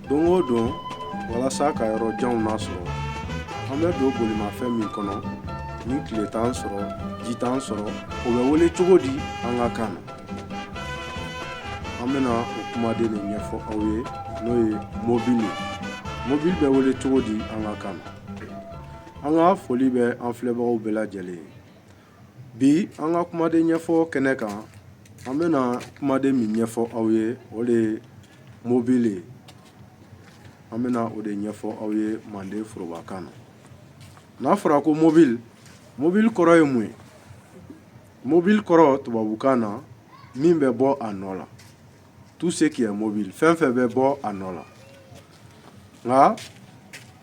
don o don walasa ka yɔrɔ janw nasɔrɔ an bɛ don bolimafɛn min kɔnɔ ni tile t'an sɔrɔ ji t'an sɔrɔ o bɛ wele cogo di an ka kan na an bɛna o kumaden de ɲɛfɔ aw ye n'o ye mobili mobili bɛ wele cogo di an ka kan na an ka foli bɛ an filɛbagaw bɛɛ lajɛlen ye Bi an ka kumaden ɲɛfɔ kɛnɛ kan an bɛna kumaden min ɲɛfɔ aw ye o de ye mobili ye an bɛna o de ɲɛfɔ aw ye manden forobakan na n'a fɔra ko mɔbili mɔbili kɔrɔ ye mun ye mɔbili kɔrɔ tubabukan na min bɛ bɔ a nɔ la tout ce qui est mobile fɛn fɛn bɛ bɔ a nɔ la nka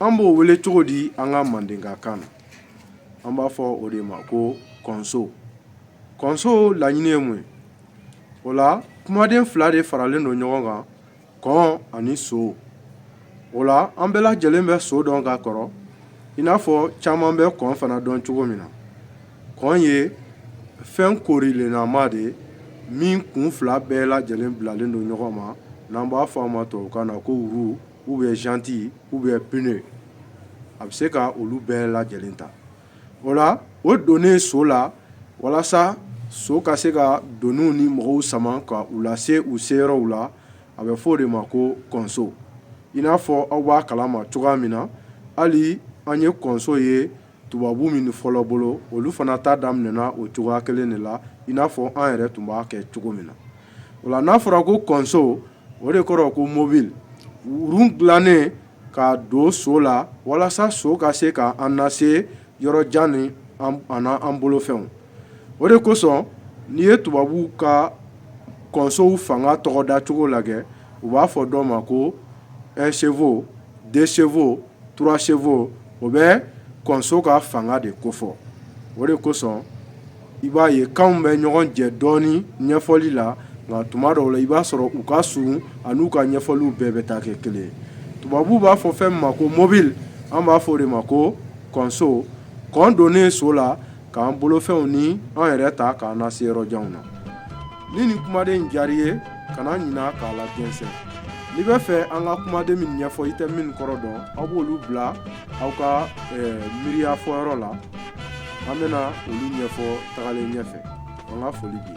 an b'o wele cogo di an ka mandenkakan na an b'a fɔ o de ma ko kɔnso kɔnso laɲini ye mun ye o la kumaden fila de faralen don ɲɔgɔn kan kɔn ani so o la an bɛɛ lajɛlen bɛ so dɔn ka kɔrɔ i n'a fɔ caman bɛ kɔn fana dɔn cogo min na kɔn ye fɛn koorilenama de ye min kun fila bɛɛ lajɛlen bilalen don ɲɔgɔn ma n'an b'a fɔ a ma tubabukan na ko roue ou bien jante ou bien pneu a bɛ se ka olu bɛɛ lajɛlen ta o la o donnen so la walasa so ka se ka doniw ni mɔgɔw sama ka u lase u seyɔrɔw la a bɛ fɔ o de ma ko kɔnso i n'a fɔ aw b'a kalama cogoya min na hali an ye kɔnso ye tubabu min fɔlɔ bolo olu fana ta daminɛna o cogoya kelen de la i n'a fɔ an yɛrɛ tun b'a kɛ cogo min na o la n'a fɔra ko kɔnso o de kɔrɔ ko mɔbili roue dilannen ka don so la walasa so ka se ka an nase yɔrɔ jan ni an bolofɛnw o de kosɔn n'i ye tubabu ka kɔnsow fanga tɔgɔda cogo lajɛ u b'a fɔ dɔw ma ko un chevaux deux chevaux trois chevaux o bɛ kɔnso ka fanga de kofɔ o de kosɔn i b'a ye kanw bɛ ɲɔgɔn jɛ dɔɔnin ɲɛfɔli la nka tuma dɔw la i b'a sɔrɔ u ka sun an'u ka ɲɛfɔliw bɛɛ bɛ taa kɛ kelen tubabuw b'a fɔ fɛn ma ko mɔbili an b'a fɔ o de ma ko kɔnso kɔn donnen so la k'an bolofɛnw ni an yɛrɛ ta k'an nase yɔrɔ janw na ni nin kumaden in diyar'i ye kana ɲina k'a lajɛnsɛn n'i bɛ fɛ an ka kumaden min ɲɛfɔ i tɛ min kɔrɔ dɔn aw b'olu bila aw ka eh, miiriya fɔyɔrɔ la an bɛna olu ɲɛfɔ tagalen ɲɛfɛ an ka foli b'i